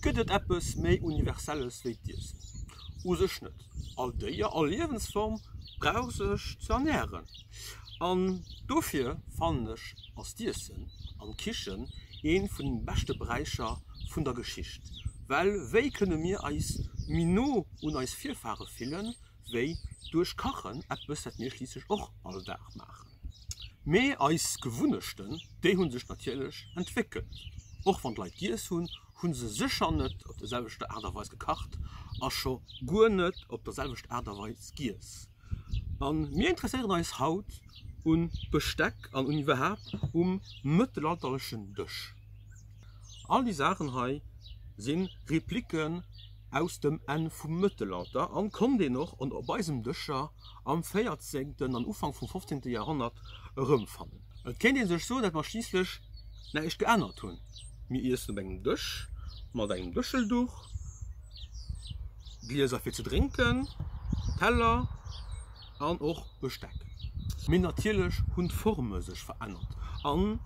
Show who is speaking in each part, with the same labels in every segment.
Speaker 1: Gëtt et eppes méi Universelles wéi d'Iessen? U sech net. All Déier, all Liewensform brauch sech ze ernären. An dofir fannen ech, ass d'Iessen an d'Kichen ee vun de beschte Beräicher vun der Geschicht. Well wéi kënne mir eis méi no un eis Virfahre fille wéi duerch Kachen, eppes wat mir schliisslech och all Dag maachen. Mee eis Gewunnechten, déi hu sech natierlech entwéckelt. Och wann d'Leit giess hunn, hu se sécher net op der selwechter Aart a Weis gekacht a scho guer net op der selwechter Aart a Weis giess. A mir interesséieren eis haut u Besteck an un iwwerhaapt um mëttelalterlechen Dësch. All déi Saachen hei si Repliken aus dem Enn vum Mëttelalter a konnt een och op eisem Dëscher am 14. an Ufank vum 15. Joerhonnert erëmfannen. Et kéint ee sech soen, dat mer schliisslech näischt geännert hunn, mir iessen op engem Dësch mat engem Dëschelduch, Glieser fir ze drénken, Teller an och Besteck. Mee natierlech hunn d'Forme sech verännert an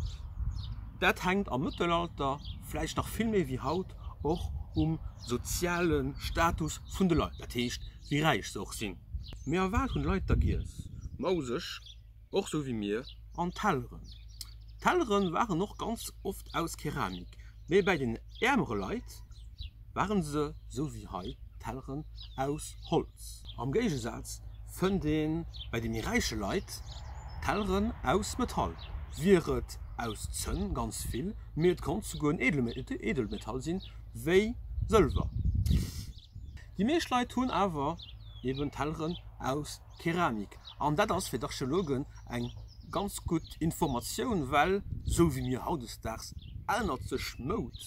Speaker 1: dat hänkt am Mëttelalter vläicht nach vill méi wéi haut och um soziale Status vun de Leit, dat heescht wéi räich se och sinn. Mee a wat hunn d'Leit da giess? Mauseg, och sou wéi mir. An Telleren? D'Tellere waren och ganz oft aus Keramik, mee bäi den äermere Leit ware se, sou wéi hei, Telleren aus Holz. Am Géigesaz fënnt ee bäi de méi räiche Leit Telleren aus Metall. Wier et aus Zënn, ganz vill, mee et konnt souguer en Edelmetall sinn, wéi Sëlwer. Déi meescht Leit hunn awer eben Telleren aus Keramik an dat ass fir d'Archeologen eng ganz gutt Informatioun, well esou wéi mir hautdesdaags ännert sech d'Moud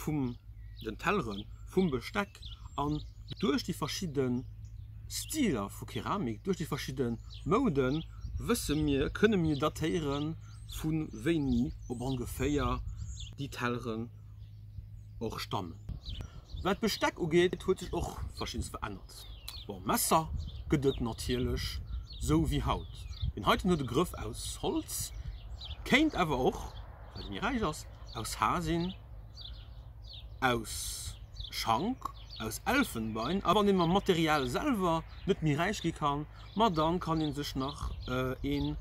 Speaker 1: vum den Telleren, vum Besteck an duerch déi verschidde Stiler vu Keramik, duerch déi verschidde Moudë wësse mir, kënne mir datéiere vu wéini op ongeféier déi Tellere. och stannen. Wat d'Besteck ugeet huet sech och verschiddes verännert. Bon, Messer gëtt et natierlech sou wéi haut. Deen heiten huet e Grëff aus Holz, kéint awer och, well e méi räich ass, aus Har sinn, aus Schank, aus Elfenbein. A wann ee mam Material selwer net méi räich gi kann, Ma dann kann een sech nach een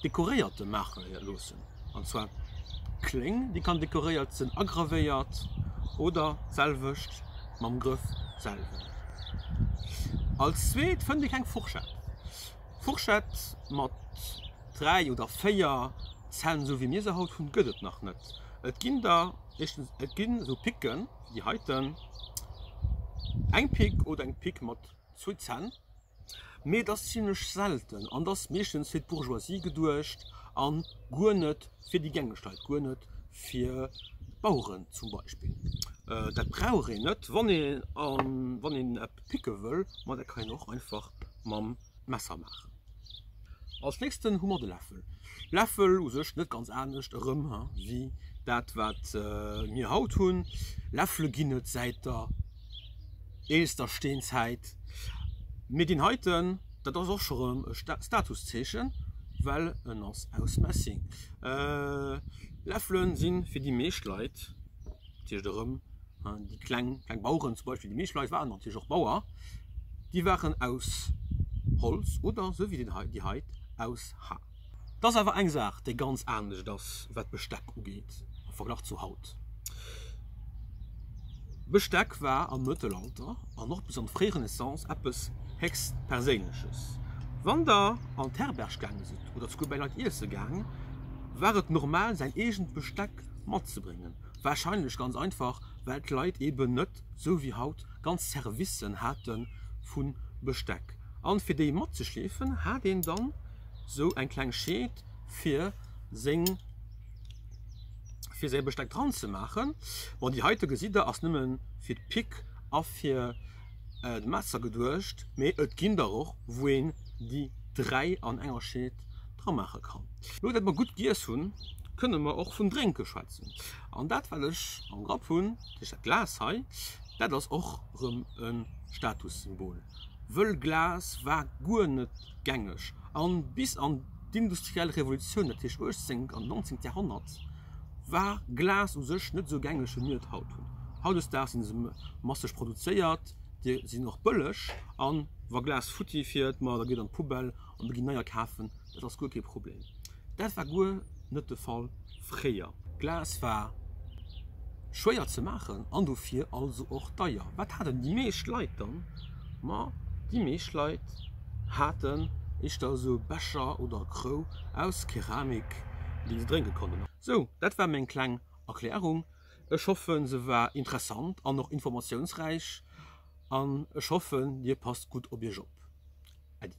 Speaker 1: dekoréierten maachen loossen, an zwar d'Kléng déi kann dekoréiert sen, agravéiert oder d'selwecht mam Grëff selwer. Als zweet fënnt een eng Fourchette, Fourchette mat 3 oder 4 Zänn sou wéi mir se haut hunn gëtt et nach net. Et ginn der éischtens et ginn esou Picken wéi déi heiten, eng Pick oder eng Pick mat zwou Zänn. Mee et ass zimlech selten an et ass meeschtens fir d'Bourgeoisie geduecht a guer net fir déi gängeg Leit, guer net fir d'Baueren zum Beispill. Dat brauch een net, wann ee wann een eppes picke wëll, ma dat kann een och einfach mam Messer maachen. Als nächsten hu mer de Läffel. Läffel u sech net ganz anescht erëm wéi dat wat mir haut hunn. Läffele ginn et säit der eelster Steenzäit. Mir ginn heiten, dat ass och scho rëm e Statuszeechen, well en ass aus Messing. Läffele si fir déi meescht Leit, dat heescht erëm déi kleng kleng Baueren zum Beispill, déi meescht Leit waren natierlech och Bauer, déi waren aus Holz oder esou wéi deen hei, déi hei aus Har. Et ass awer eng Saach, déi ganz anescht ass, wat d'Besteck ugeet am Verglach zu haut. Besteck war am Mëttelalter an och bis an d'fréi Renaissance eppes héchst Perséinleches. Wann Der an d'Herberg gaange sidd oder zu gudde Leit iesse gaang, war et normal, säin eegent Besteck matzebréngen. Warscheinlech ganz einfach, well d'Leit eben net sou wéi haut ganz Servicen hate vu Besteck, an fir déi matzeschleefen hat een dann sou eng kleng Scheed fir seng, fir säi Besteck dran ze maachen. Bon, déi heite gesitt der ass nëmme fir d'Pick a fir d'Messer geduecht, mee et ginn der och wou een déi dräi an enger Scheed dra maache kann. Lo dat mer gutt giess hunn, kënne mer och vum Drénke schwätzen. An dat wat ech am Grapp hunn, dat heescht dat Glas hei, dat ass och erëm e Statussymbol, wëll Glas war guer net gängeg. A bis an d'industriell Revolutioun, dat heescht 18 an 19 Joerhonnert, war Glas u sech net esou gängeg wéi mir et haut hunn. Hautdesdaags si se masseg produzéiert, déi sinn och bëlleg a wa Glas futti fiert, ma da geet et an d'Poubelle an da ginn neier kafen, dat ass guer kee Problem. Dat war guer net de Fall fréier. Glas war schwéier ze maachen an dofir also och deier. Wat haten déi meescht Leit dann? Ma déi meescht Leit haten éischter esou Becher oder Krou aus Keramik, déi se drénke konnten. Sou, dat war meng kleng Erklärung. Ech hoffen, se war interessant an och informatiounsräich an ech hoffen, dir passt gutt op iech op. Äddi.